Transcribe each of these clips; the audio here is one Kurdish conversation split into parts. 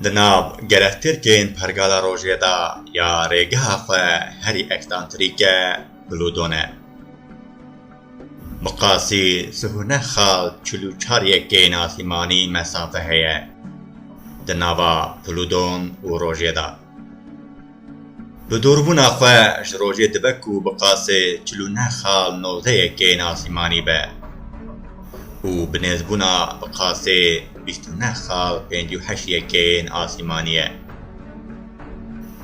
Di nav gelek Tirkên Pergala Rojê de ya rêgeha xwe herî eksantrîk e Plûton e. Bi qasî sih û neh xal çil û çar yekeyên asîmanî mesafe heye di nava Plûton û Rojê de. Bi dûrbûna xwe ji rojê dibe ku bi qasê çil û neh xal nozdeyê kêyên asîmanî be û bi nêzbûna bi qasê bîst û neh xal pêncî û heşt yê kêyên asîmanî ye.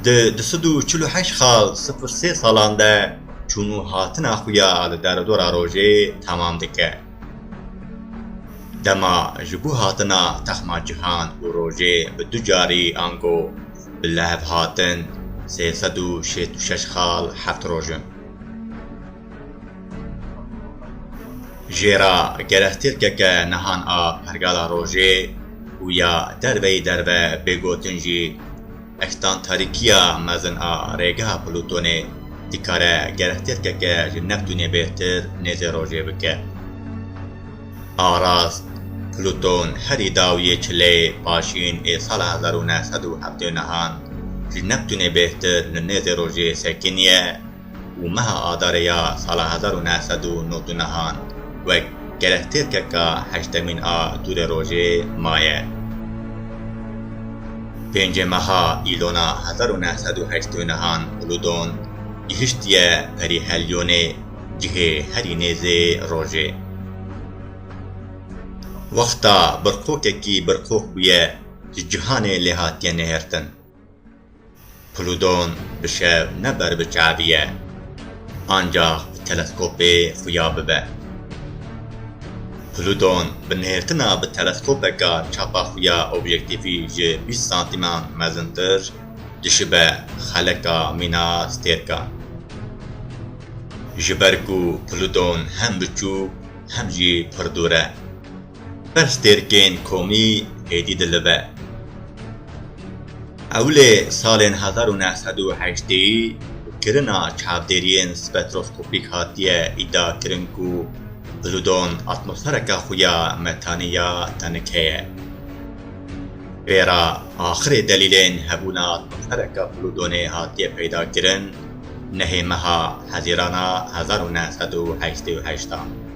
Di du sed û çil û heşt xal sifir sê salan de çûn û hatina xwe ya li deredora rojê temam dike. Dema ji bo hatina texma cihan û rojê bi du carî ango bi lehev hatin sê sed û şêst û şeş xal heft roj in. Jê re gerek tirkeke nihan a pergala rojê û ya derveyî derve bê gotin jî Extan tarîkiya mezin a rêgeha Plûtonê dikare gerek tirkeke ji Neptûnê bêhtir nêzê rojê bike. A rast, Plûton herî daw yê çi lê paşîn ê sala hezar û neh sed û heftê û nehan ji Neptûnê bêhtir li nêzê rojê sekiniye, Û meha Adarê ya sala hezar û neh sed û nod û nehan wek gerek têrkeka heştemîn a dûrê rojê maye. Pêncê meha Îlona hezar û neh sed û heştê û nehan Uludon gihiştiye perî Helyonê cihê herî nêzê rojê. Wexta birqokekî birqok bûye ji cihanê lê hatiye nêhirtin. Plûton bi şev ne ber bi çavî ye, ancax bi teleskopê xuya bibe. Plûton bi nêrtina bi teleskopeka çapa xuya objektîfî ji bîst santîman mezintir dişibe xeleka mîna stêrkan. Ji ber ku Plûton hem biçûk hem jî pir dûr e. Pestêrkên komî êdî dilive. Ewlê salên hezar û neh sed û heşteyî kirina çavdêriyên spektroskopîk hatiye îdiakirin ku Plûton atmosfereke xwe ya metanî ya tenike ye. Vê re axirê delîlên hebûna atmosfereke Plûtonê hatiye peydakirin nehê meha Hezîrana hezar û neh sed û heştê û heşt a.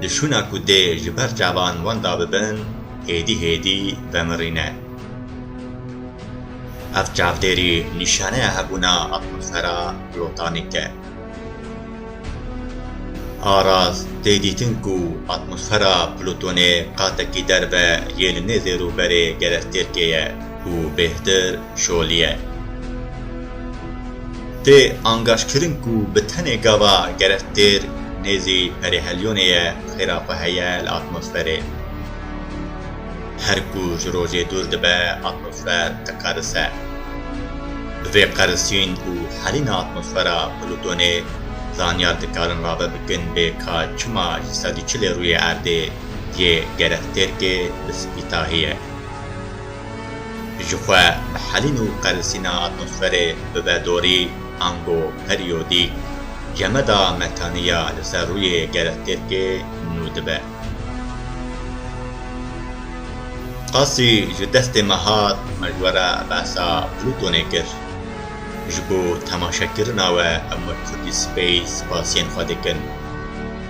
Di şûna ku dê ji ber çavan wan da bibin hêdî hêdî vemirîne. Ev çavdêrî nîşaneya hebûna atmosfera plotanîk e. Aras tê dîtin ku atmosfera Plûtonê qatekî derve yê li nêzê rûberê gerestêrkê ye û bêhtir, şoliye. Tê angajkirin ku bi tenê gava gerek têr nêzî perêhelyonê ye xêra xwe heye li atmosferê. Her ku ji rojê dûr dibe atmosfer diqerise. Bi vê qerisîn û helîna atmosfera Plutonê zanyar dikarin rave bikin bê ka çima ji sed û çilê rûyê erdê yê gerek têrkê bi spî tahî ye. Ji xwe bihelîn û qerisîna atmosferê bibe dorî, ango periyodîk cemeda metanî ya li ser rûyê gerestêrkê nû dibe. Qasî ji destê me hat mecwera behsa Plûtonê kir. Ji bo temaşekirina we em wek Kurdî Space spasiyên xwe dikin.